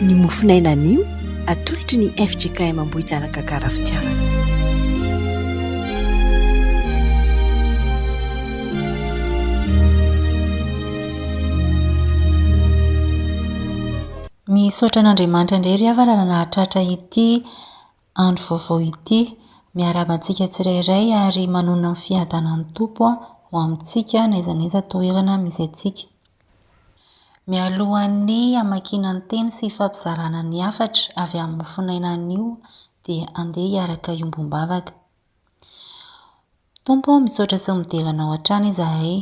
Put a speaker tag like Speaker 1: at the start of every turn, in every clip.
Speaker 1: Ny mofon'aina anio atolotry ny fjkm Ambohijanaka Gara Fitiavana.
Speaker 2: Misaotra an'Andriamanitra indray ry havana nahatratra ity andro vaovao ity. Miarahaba antsika tsirairay ary manonona ny fiadanan'ny Tompo ho amintsika n'aiza n'aiza toerana misy antsika. Mialohan'ny hamakiana ny teny sy hifampizarana ny hafatra avy amin'ny mofonaina anio dia andeha hiaraka hiombom-bavaka. Tompo ô, misaotra sy midera Anao hatrany izahay,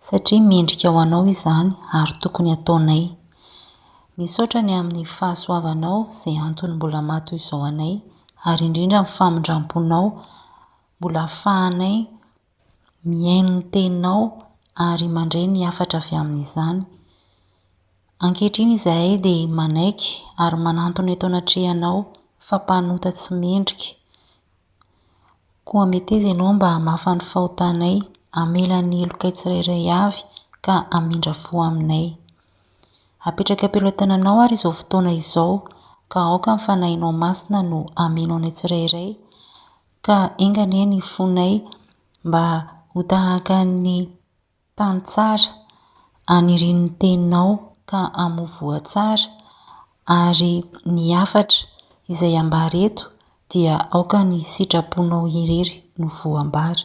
Speaker 2: satria mendrika ho Anao izany ary tokony hataonay. Misaotra ny amin'ny fahasoavanao izay antony mbola maha toy izao anay, ary indrindra ny famindram-ponao mbola ahafahanay mihaino ny Teninao ary mandre ny hafatra avy amin'izany. Ankehitriny izahay dia manaiky ary manantona eto anatrehanao fa mpanota tsy mendrika, Koa meteza ianao mba hamafa ny fahotanay, hamela ny helokay tsirairay avy, ka hamindra fo aminay. Apetraka am-pelotananao àry izao fotoana izao, ka aoka ny Fanahinao Masina no hameno anay tsirairay, ka enga anie ny fonay mba ho tahaka ny. Tany tsara, aniriano ny teninao ka hamovoa tsara, ary ny hafatra izay ambara eto dia aoka ny sitraponao irery no voambara.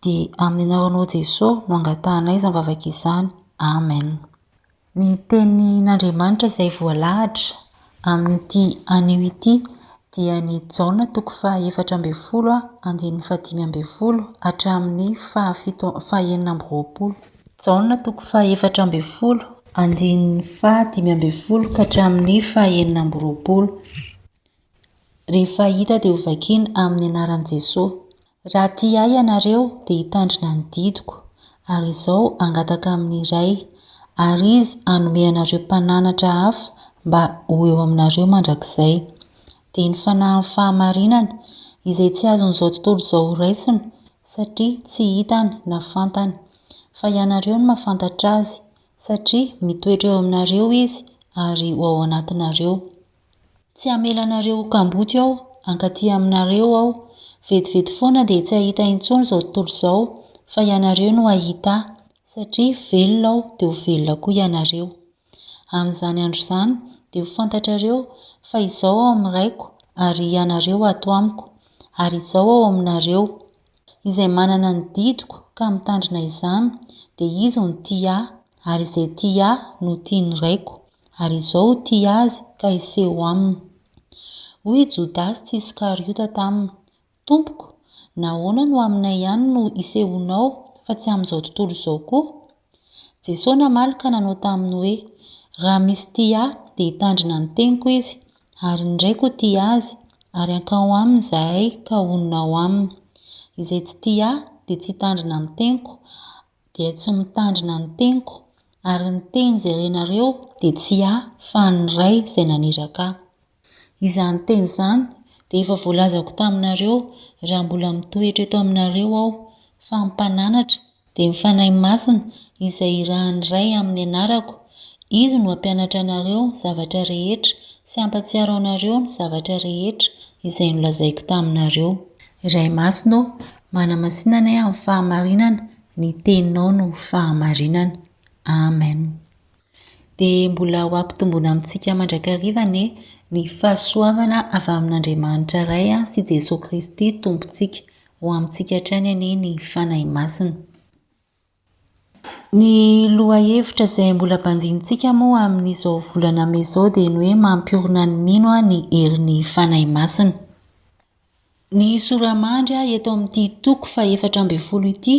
Speaker 2: Dia amin'ny anaranao Jeso no angatahanay izany vavaka izany. Amen. Ny Tenin'Andriamanitra izay voalahatra amin'ity anio ity dia ny Jaona toko fahaefatra ambin'ny folo andininy fahadimy ambin'ny folo hatramin'ny fahafito fahenina amby roapolo. Jaona toko fahaefatra ambin'ny folo andininy fahadimy ambin'ny folo ka hatramin'ny fahenina amby roapolo. Rehefa hita dia hovakiana amin'ny anaran'i Jesoa. Raha tia Ahy ianareo, dia hitandrina ny didiko, ary izao hangataka amin'ny Ray, ary Izy hanome anareo Mpananatra hafa mba ho eo aminareo mandrakizay. Dia ny Fanahin'ny fahamarinana, izay tsy azon'izao tontolo izao horaisina, satria tsy hitany na fantany. Fa ianareo no mahafantatra Azy, satria mitoetra eo aminareo Izy ary ho ao anatinareo. Tsy hamela anareo ho kamboty ao, hankaty aminareo Aho. Vetivety foana dia tsy hahita intsony izao tontolo izao, fa ianareo no hahita Ahy, satria velona Aho dia ho velona koa ianareo. Amin'izany andro izany, dia ho fantatrareo fa Izaho ao amin'ny Raiko, ary ianareo ato Amiko, ary Izaho ao aminareo. Izay manana ny didiko ka mitandrina izany dia izy no tia ahy, ary izay tia ahy no tia ny Raiko, ary izao tia azy ka hiseho aminy. Hoy i Jodasy tsy Iskariota taminy, Tompoko, nahoana no aminay ihany no isehoanao fa tsy amin'izao tontolo izao koa? Jesoa namaly ka nanao taminy hoe, Raha misy tia Ahy, dia hitandrina ny teniko izy, ary ny Raiko hotia azy, ary hankao aminy izahay ka honina ao aminy. Izay tsy tia Ahy dia tsy hitandrina ny teniko, dia tsy mitandrina ny teniko, ary ny teny izay renareo dia tsy Ahy fa ny Ray izay naniraka Ahy. Izany teny izany dia efa voalazako taminareo raha mbola mitoetra eto aminareo Aho, fa ny Mpananatra dia ny Fanahy Masina izay irahan'ny Ray amin'ny anarako, Izy no hampianatra anareo ny zavatra rehetra sy hampatsiaro anareo ny zavatra rehetra izay nolazaiko taminareo. Ray Masina ô, manamasina anay amin'ny fahamarinana, ny Teninao no fahamarinana. Amen. Dia mbola ho ampitomboina amintsika mandrakariva anie ny fahasoavana avy amin'Andriamanitra Ray sy Jesoa Kristy Tompontsika. Ho amintsika hatrany anie ny Fanahy Masina. Ny lohahevitra izay mbola banjinintsika moa amin'izao volana mey izao dia ny hoe mampiorina ny mino ny herin'ny Fanahy Masina. Ny sora-mandry eto amin'ity toko fahefatra ambin'ny folo ity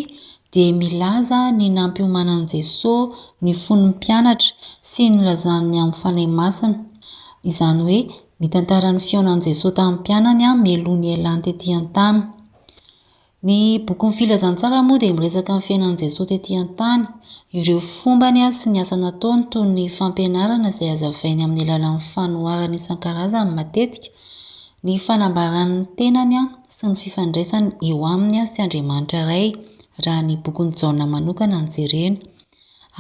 Speaker 2: dia milaza ny nampiomanan'i Jesoa ny fon'ny mpianatra sy nilazany ny amin'ny Fanahy Masina. Izany hoe mitantara ny fihaonan'i Jesoa tamin'ny mpianany meloha nialany tetỳ an-tany. Ny bokin'ny Filazantsara moa dia miresaka ny fiainan'i Jesoa tetỳ an-tany, ireo fombany sy ny asa nataony toy ny fampianarana izay hazavainy amin'ny alalan'ny fanoharana isan-karazany matetika, ny fanambarany ny tenany sy ny fifandraisany eo aminy sy Andriamanitra Ray raha ny bokin'i Jaona manokana no jerena.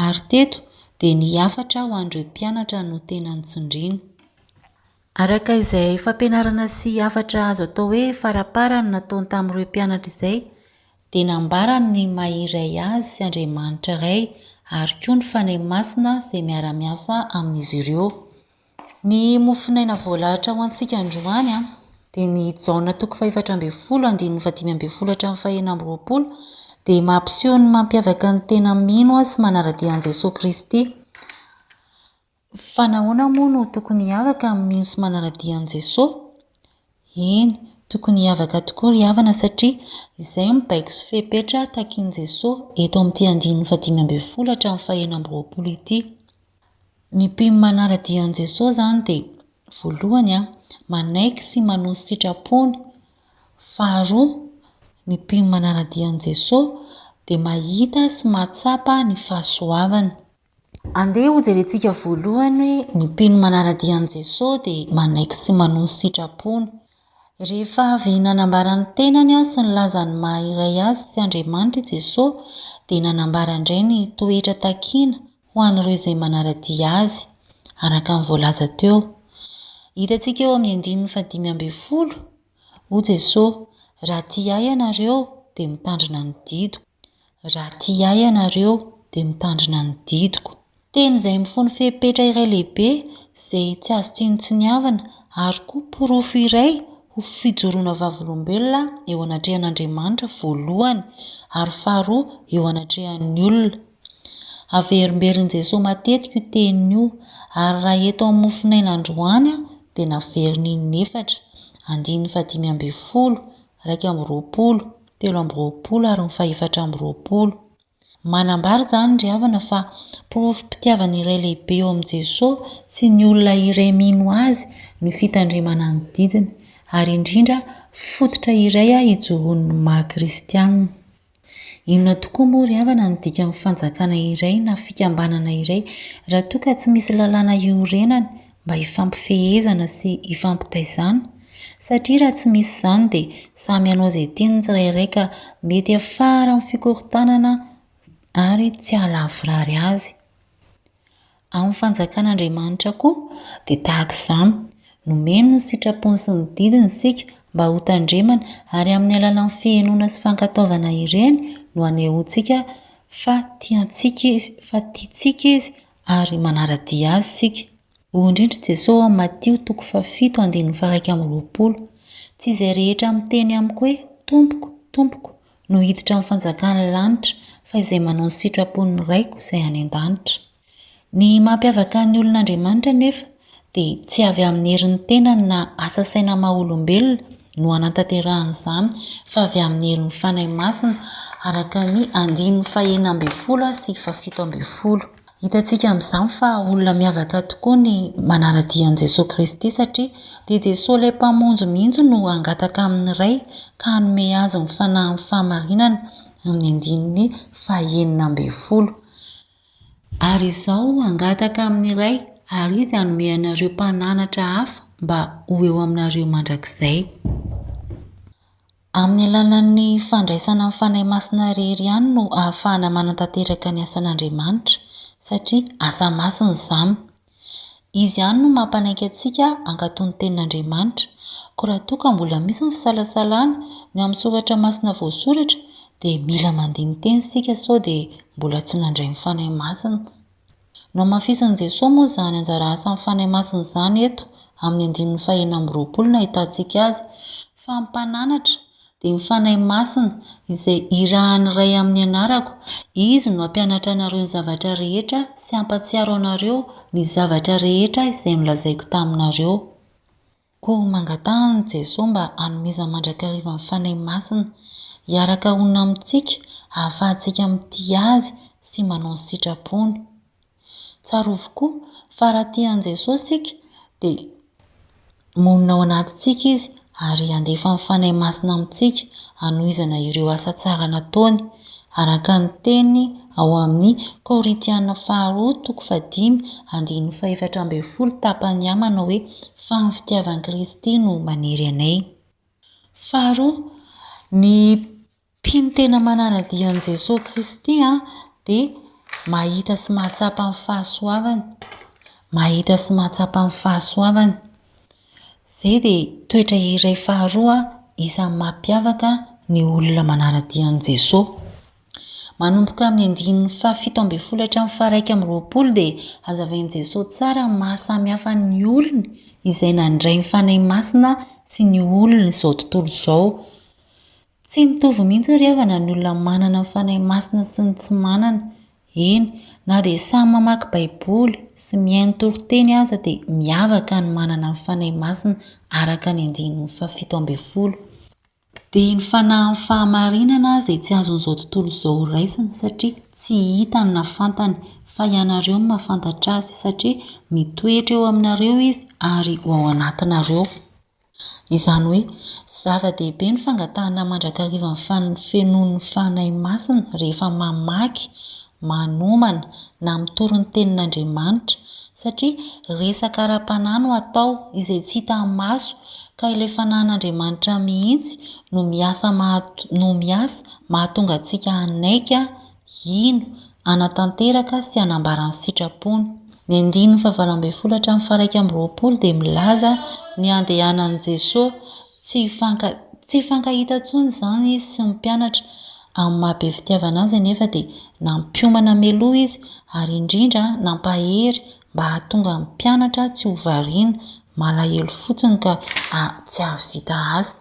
Speaker 2: Ary teto dia ny hafatra ho an'ireo mpianatra no tena notsindriana. Araka izay fampianarana sy hafatra azo atao hoe farapara no nataony tamin'ireo mpianatra izay, dia nambarany ny maha iray Azy sy Andriamanitra Ray ary koa ny Fanahy Masina izay miara-miasa amin'izy ireo. Ny mofonaina voalahatra ho antsika androany dia ny Jaona toko fahefatra ambin'ny folo andininy fahadimy ambin'ny folo hatramin'ny fahenina amby roapolo dia mampiseho ny mampiavaka ny tena mino sy manara-dia an'i Jesoa Kristy Fa nahoana moa no tokony hiavaka amin'ny mino sy manara-dia an'i Jesoa? Eny, tokony hiavaka tokoa ry havana satria izay no baiko sy fepetra takin'i Jesoa eto amin'ity andininy fahadimy ambin'ny folo hatramin'ny fahenina amby roapolo ity. Ny mpino manara-dia an'i Jesoa izany dia, voalohany, manaiky sy manohy ny sitrapony. Faharoa, ny mpino manara-dia an'i Jesoa dia mahita sy mahatsapa ny fahasoavany. Andeha hojerentsika voalohany hoe ny mpino manara-dia an'i Jesosy dia manaiky sy manohy ny sitrapony. Rehefa avy nanambara ny tenany sy nilaza ny maha iray Azy sy Andriamanitra i Jesosy, dia nanambara indray ny toetra takiana ho an'ireo izay manara-dia Azy, araka ny voalaza teo. Hitantsika eo amin'ny andininy fahadimy ambin'ny folo, Hoy Jesosy, Raha tia Ahy ianareo, dia mitandrina ny didiko. Raha tia ahy ianareo, dia mitandrina ny didiko. Teny izay mifono fepetra iray lehibe izay tsy azo tsinontsiniavana ary koa porofo iray ho fijoroana vavolombelona eo anatrehan'Andriamanitra voalohany ary faharoa eo anatrehan'ny olona. Averimberin'i Jesoa matetika io teny io ary raha eto amin'ny mofonaina androany aho dia naveriny inefatra, andininy fahadimy ambin'ny folo, iraika amby roapolo, telo amby roapolo ary ny fahefatra amby roapolo. Manambara izany ry havana fa porofom-pitiavana iray lehibe eo amin'i Jesosy sy ny olona iray mino Azy ny fitandremana ny didiny, ary indrindra fototra iray hijoroan'ny maha kristianina. Inona tokoa moa ry havana no dikan'ny fanjakana iray na fikambanana iray raha toa ka tsy misy lalàna iorenany mba hifampifehezana sy hifampitaizana satria raha tsy misy izany dia samy hanao izay tiany ny tsirairay ka mety hiafara amin'ny fikorontanana ary tsy hahalavorary azy. Amin'ny fanjakan'Andriamanitra koa dia tahaka izany, nomeny ny sitrapony sy ny didiny isika mba hotandremana ary amin'ny alalan'ny fihenoana sy fankatoavana ireny no hanehoantsika fa tiantsika Izy, fa tiantsika Izy ary manara-dia Azy isika. Hoy indrindra i Jesoa ao amin'ny Matio toko fahafito andininy faharaika amby roapolo, Tsy izay rehetra miteny amiko hoe, Tompoko, Tompoko, no hiditra amin'ny fanjakan'ny lanitra, fa izay manao ny sitrapon'ny Raiko izay any an-danitra. Ny mampiavaka ny olon'Andriamanitra anefa dia tsy avy amin'ny herin'ny tenany na asa saina maha olombelona no hanatanterahany izany fa avy amin'ny herin'ny Fanahy Masina, araka ny andininy fahenina ambin'ny folo sy fahafito ambin'ny folo. Hitantsika amin'izany fa olona miavaka tokoa ny manara-dia an'i Jesoa Kristy satria dia Jesoa ilay Mpamonjy mihitsy no hangataka amin'ny Ray ka hanome Azy ny fanahin'ny fahamarinana, amin'ny andininy fahenina ambin'ny folo. Ary izaho hangataka amin'ny Ray, ary Izy hanome anareo mpananatra hafa mba ho eo aminareo mandrakizay. Amin'ny alalan'ny fandraisana ny Fanahy Masina irery ihany no ahafahana manatanteraka ny asan'Andriamanitra, satria asa masina izany. Izy ihany no mampanaiky antsika hankato ny Tenin'Andriamanitra. Koa raha toa ka mbola misy ny fisalasalana ny amin'ny soratra masina voasoratra, dia mila mandini-teny isika sao dia mbola tsy nandray ny Fanahy Masina. Nohamafisin'i Jesoa moa izany anjara asan'ny Fanahy Masina izany eto amin'ny andininy fahena amby roapolo no ahitantsika azy fa, Mpananatra, dia ho Fanahy Masina, izay irahan'ny Ray amin'ny anarako, Izy no hampianatra anareo ny zavatra rehetra sy hampatsiaro anareo ny zavatra rehetra izay nolazaiko taminareo. Koa mangatahan'i Jesoa mba hanomezany mandrakariva ny Fanahy Masina, hiaraka honina amintsika, hahafahantsika mitia Azy sy manao ny sitrapony. Tsarovy koa fa raha tia an'i Jesoa isika dia monina ao anatintsika Izy ary handefa ny Fanahy Masina amintsika hanohizana ireo asa tsara nataony, araka ny teny ao amin'ny Korintiana faharoa toko fahadimy andininy fahefatra ambin'ny folo tapany A manao hoe, Fa ny fitiavan'i Kristy no manery anay. Faharoa, ny Mpino tena manana-dia an'i Jesoa Kristy dia mahita sy mahatsapa ny fahasoavany. Mahita sy mahatsapa ny fahasoavany. Izay dia toetra iray faharoa isan'ny mampiavaka ny olona manara-dia an'i Jesoa. Manomboka amin'ny andininy fahafito ambin'ny folo hatramin'ny faharaika amby roapolo dia hazavain'i Jesoa tsara ny maha-samy hafa ny olony izay nandray ny Fanahy Masina sy ny olon'izao tontolo izao. Tsy mitovy mihitsy ry havana ny olona manana ny Fanahy Masina sy ny tsy manana. Eny, na dia samy mamaky Baiboly sy mihaino toriteny aza dia miavaka ny manana ny Fanahy Masina araka ny andininy fahafito ambin'ny folo. Dia ny fanahin'ny fahamarinana izay tsy azon'izao tontolo izao raisina satria tsy hitany na fantany, fa ianareo no mahafantatra azy, satria mitoetra eo aminareo izy ary ao anatinareo. Izany hoe, zava-dehibe ny fangatahana mandrakariva ny fanfenoan'ny Fanahy Masina rehefa mamaky, manomana, na mitory ny Tenin'Andriamanitra, satria resaka ara-panahy no atao, izay tsy hitan'ny maso, ka ilay Fanahin'Andriamanitra mihitsy no miasa no miasa mahatonga antsika hanaiky Hino, hanatanteraka sy hanambara ny sitrapony. Ny andininy fahavalo ambin'ny folo hatramin'ny faha-iraika amby roapolo dia milaza ny handehanan'i Jesoa. Tsy hifanka, tsy hifankahita intsony izany Izy sy ny mpianatra. Amin'ny maha be fitiavana Azy anefa dia nampiomana mialoha Izy ary indrindra nampahery mba hahatonga ny mpianatra tsy ho variana, malahelo fotsiny ka tsy hahavita asa.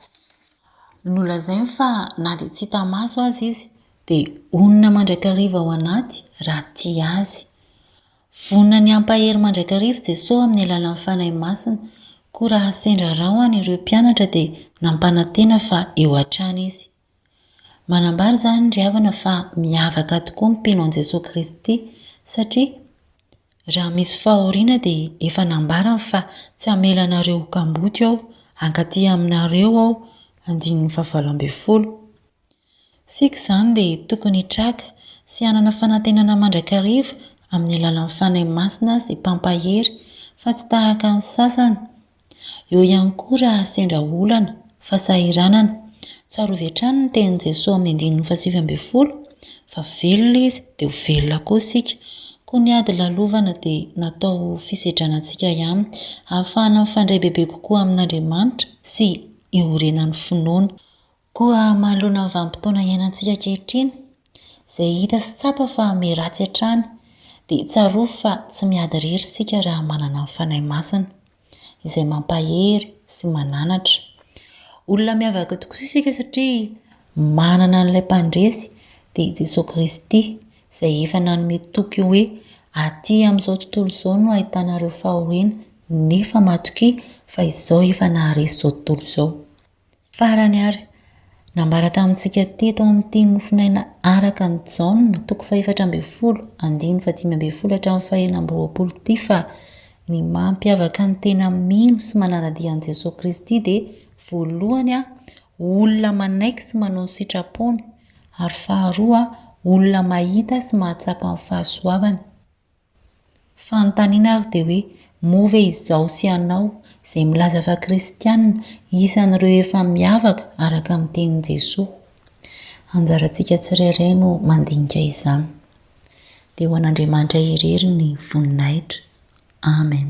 Speaker 2: Nolazainy fa na dia tsy hita maso aza Izy. Dia honina mandrakariva ao anaty raha tia Azy. Vonona ny hampahery mandrakariva i Jesoa amin'ny alalan'ny Fanahy Masina, koa raha sendra rahona ireo mpianatra dia nampanantena fa eo hatrany Izy. Manambara izany ry havana fa miavaka tokoa ny mpino an'i Jesoa Kristy, satria raha misy fahoriana dia efa nambarany fa tsy hamela anareo ho kamboty Aho, hankaty aminareo Aho, andininy fahavalo ambin'ny folo. Isika izany dia tokony hitraka sy hanana fanantenana mandrakariva amin'ny alalan'ny Fanahy Masina sy Mpampahery fa tsy tahaka ny sasany. Eo ihany koa raha sendra olana, fasahiranana. Tsarovy hatrany ny tenin'i Jesoa amin'ny andininy fahasivy ambin'ny folo fa velona Izy dia ho velona koa isika. Koa ny ady lalovana dia natao ho fisedrana antsika ihany, hahafahana mifandray bebe kokoa amin'Andriamanitra sy hiorenan'ny finoana. Koa manoloana ny vanim-potoana iainantsika ankehitriny, izay hita sy tsapa fa miha ratsy hatrany, dia tsarovy fa tsy miady irery isika raha manana ny Fanahy Masina, izay mampahery sy mananatra. Olona miavaka tokoa isika satria manana an'ilay Mpandresy, dia i Jesoa Kristy, izay efa nanome toky hoe, Atỳ amin'izao tontolo izao no ahitanareo fahoriana, nefa matokia, fa Izaho efa naharesy izao tontolo izao. Farany ary, nambara tamintsika teto amin'ity Mofonaina Araka an'i Jaona, toko fahefatra ambin'ny folo, andininy fahadimy ambin'ny folo hatramin'ny faheenina amby roapolo ity fa ny mampiavaka ny tena mino sy manara-dia an'i Jesoa Kristy dia voalohany, olona manaiky sy manao ny sitrapony, ary faharoa, olona mahita sy mahatsapa ny fahasoavany. Fanontaniana ary dia hoe, moa ve izaho sy ianao, izay milaza fa kristiana, isan'ireo efa miavaka araka ny tenin'i Jesoa? Anjarantsika tsirairay no mandinika izany. Dia ho an'Andriamanitra irery ny voninahitra. Amen.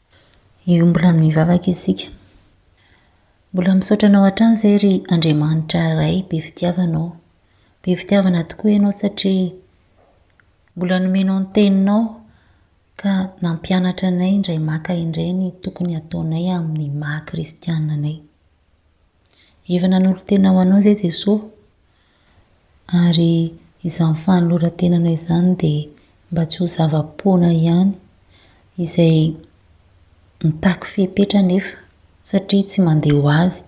Speaker 2: Hiombona amin'ny vavaka isika. Mbola misaotra anao hatrany izay ry Andriamanitra Ray be fitiavana ô. Be fitiavana tokoa ianao satria mbola nomenao ny teninao ka nampianatra anay indray maka indray ny tokony hataonay amin'ny maha kristiana anay. Efa nanolo-tena ho anao izay Jesoa Ary izany fanoloran-tenana izany dia mba tsy ho zava-poana ihany, izay mitaky fepetra anefa satria tsy mandeha ho azy.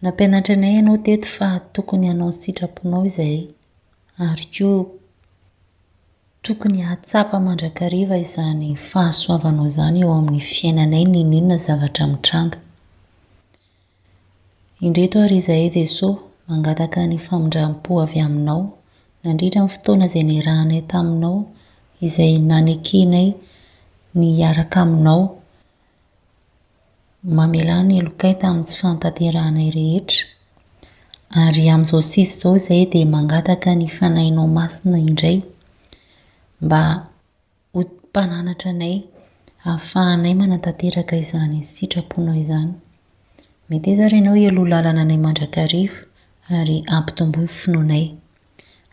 Speaker 2: Nampianatra anay ianao teto fa tokony hanao ny sitraponao izahay, ary koa tokony hahatsapa mandrakariva izany fahasoavanao izany eo amin'ny fiainanay n'inon'inona zavatra mitranga. Indreto ary izahay Jesosy, mangataka ny famindram-po avy Aminao, nandritra ny fotoana izay niarahanay taminao, izay nanekenay ny hiaraka Aminao, mamelà ny helokay tamin'ny tsy fahatanterahanay rehetra. Ary amin'izao sisa izao izahay dia mangataka ny Fanahinao Masina indray mba. Ho Mpananatra anay, ahafahanay manatanteraka izany sitraponao izany. Meteza ary Ianao hialoha lalana anay mandrakariva ary ampitomboy ny finoanay.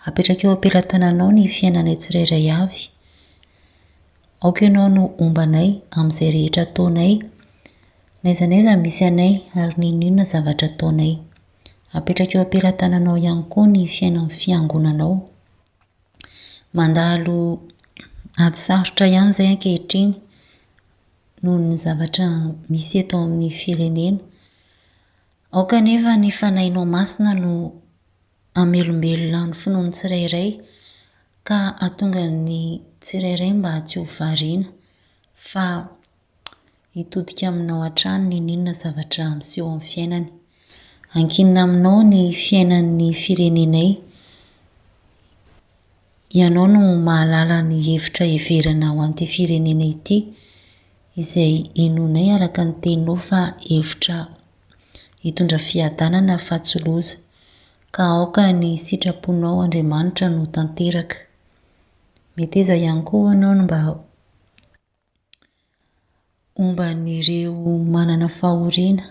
Speaker 2: Apetraka eo am-pelatananao ny fiainanay tsirairay avy. Aoka Ianao no homba anay amin'izay rehetra ataonay, n'aiza n'aiza misy anay ary n'inon'inona zavatra ataonay. Apetraka eo am-pelatananao ihany koa ny fiainan'ny Fiangonanao. Mandalo ady sarotra ihany izay ankehitriny noho ny zavatra misy eto amin'ny firenena. Aoka anefa ny Fanahinao Masina no hamelombelona ny finoan'ny tsirairay ka hahatonga ny tsirairay mba tsy ho variana fa Hitodika aminao hatrany n'inon'inona zavatra miseho amin'ny fiainany. Ankinina aminao ny fiainan'ny firenenay. Ianao no mahalala ny hevitra heverina ho an'ity firenena ity, izay inoanay araka ny teninao fa hevitra hitondra fiadanana fa tsy loza. Ka aoka ny sitraponao Andriamanitra no tanteraka. Meteza ihany koa hoanao ny mba Momba an'ireo manana fahoriana,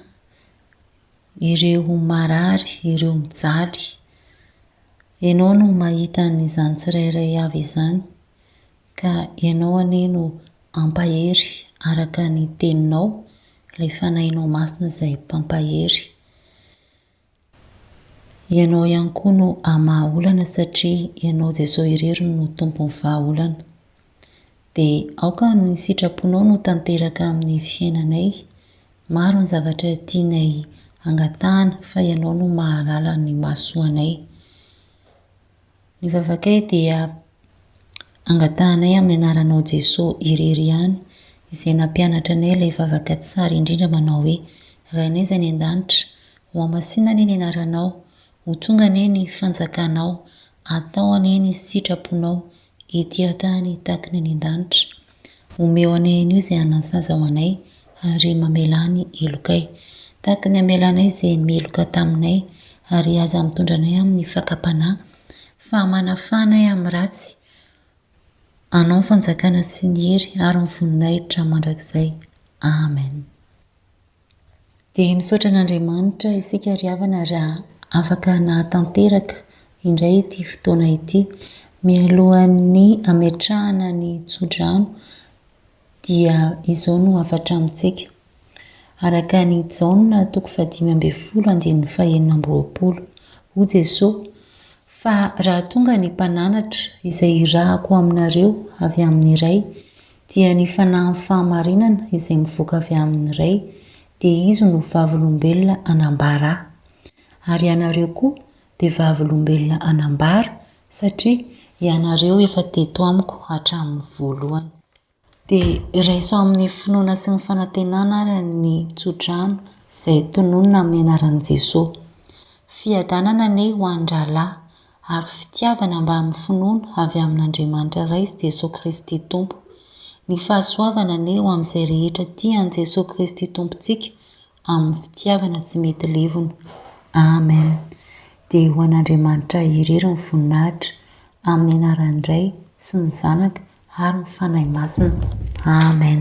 Speaker 2: ireo marary, ireo mijaly. Ianao no mahita an'izany tsirairay avy izany, ka Ianao anie no hampahery araka ny Teninao, ilay Fanahinao Masina izay Mpampahery. Ianao ihany koa no hamaha olana satria Ianao Jesoa irery no Tompon'ny vahaolana. Dia aoka ny sitraponao no tanteraka amin'ny fiainanay, maro ny zavatra tianay hangatahana fa Ianao no mahalala ny mahasoa anay. Ny vavakay dia angatahanay amin'ny anaranao Jesoa irery ihany izay nampianatra anay ilay vavaka tsara indrindra manao hoe, Rainay izay any an-danitra, ho amasina anie ny anaranao, ho tonga anie ny fanjakanao, atao anie ny sitraponao ety an-tany takiny any an-danitra. Omeo anay anio izay hanan-saza ho anay, ary mamelà ny helokay, tahaka ny hamela anay izay meloka taminay, ary aza mitondra anay amin'ny fakam-panahy, fa manafaha anay amin'ny ratsy. Anao ny fanjakana sy ny hery ary ny voninahitra mandrakizay. Amen. Dia misaotra an'Andriamanitra isika ry havana ary afaka nahatanteraka indray ity fotoana ity. Mialohan'ny hametrahana ny tsodrano dia izao no hafatra amintsika. Araka an'i Jaona toko fahadimy ambin'ny folo andininy fahenina amby roapolo. Hoy Jesoa, Fa raha tonga ny mpananatra izay irahako aminareo avy amin'ny Ray, dia ny fanahin'ny fahamarinana izay mivoaka avy amin'ny Ray, dia Izy no vavolombelona hanambara Ahy. Ary ianareo koa dia vavolombelona hanambara, satria ianareo efa teto amiko hatramin'ny voalohany. Dia raiso amin'ny finoana sy ny fanantenana ary ny tso-drano izay tononina amin'ny anaran'i Jesoa. Fiadanana anie ho an-drahalahy ary fitiavana mbamin'ny finoana avy amin'Andriamanitra Ray sy Jesoa Kristy Tompo. Ny fahasoavana anie ho amin'izay rehetra tia an'i Jesoa Kristy Tompontsika amin'ny fitiavana tsy mety levona. Amen. Dia ho an'Andriamanitra irery ny voninahitra, amin'ny anaran'ny Ray, sy ny Zanaka, ary ny Fanahy Masina. Amen.